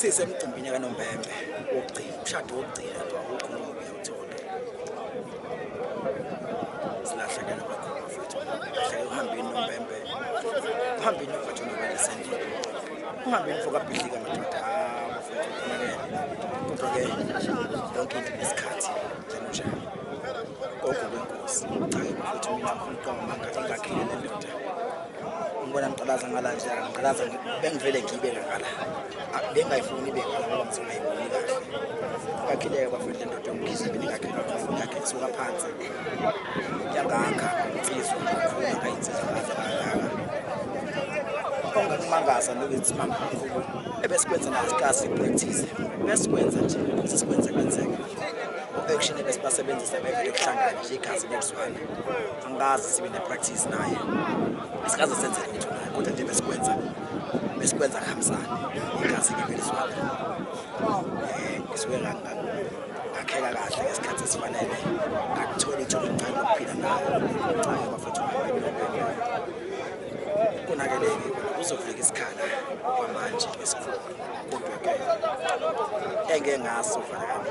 sisemcimbini kanombembe wokugcina umshado wokugcina nje awukho ngoba uyawuthola silahlekela kakhulu mfethu lahleke uhambeni nombembe uhambeni mfethu nobalisendile uhambeni fokabhidlika madoda hamba futhi uphumelele kodwa ke yonke into nesikhathi njengonjalo konke kwenkosi cha ke mfethu mina ngifuna uqamba amanga ingakhile le ndoda Ngibona ngiqalaza ngala nje, ngiqalaza bengivele ngibe ngala. Bengayifuni ibe ngala ngoba ngizona ayiboni kahle. Kakhileke bafuna le ndoda yomkhize beningakhe ngakhe kusuka phansi. Yangakha insizwa kakhulu akayinsizwa kaze kangaka. Ongakumangaza nokuthi mama kakhulu ebesikwenza nathi kasi practice. Besikwenza nje, sesikwenze kwenzeka. U-action ebesibasebenzisa bevele kuhlangana nje igazi nekuzwana. angikaze sibe ne-practice naye asikaze senze lutho naye kodwa nje besikwenza besikwenza kuhambisane inkazi-ke vele siwala um eh, ngisuke ngakheka kahle ngesikhathi esifanele ngakuthola ithuba elincane lokuphila nayo ncayo bafethu konakeleke kuzofika isikhala kwamanje esikhulu kodwa-ke engeke ngaso fanekani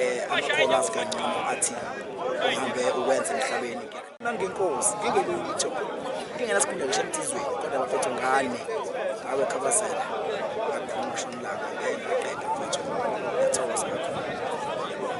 eh amakhono asikangcono athi uhambe ukwenza emhlabeni nangenkosi ngingelutho ngingenasikhundla ngisho emthizweni kodwa bafethu ngane ngawe khabazela ngakhuluma shonilanga ngeke ngaqeda mfethu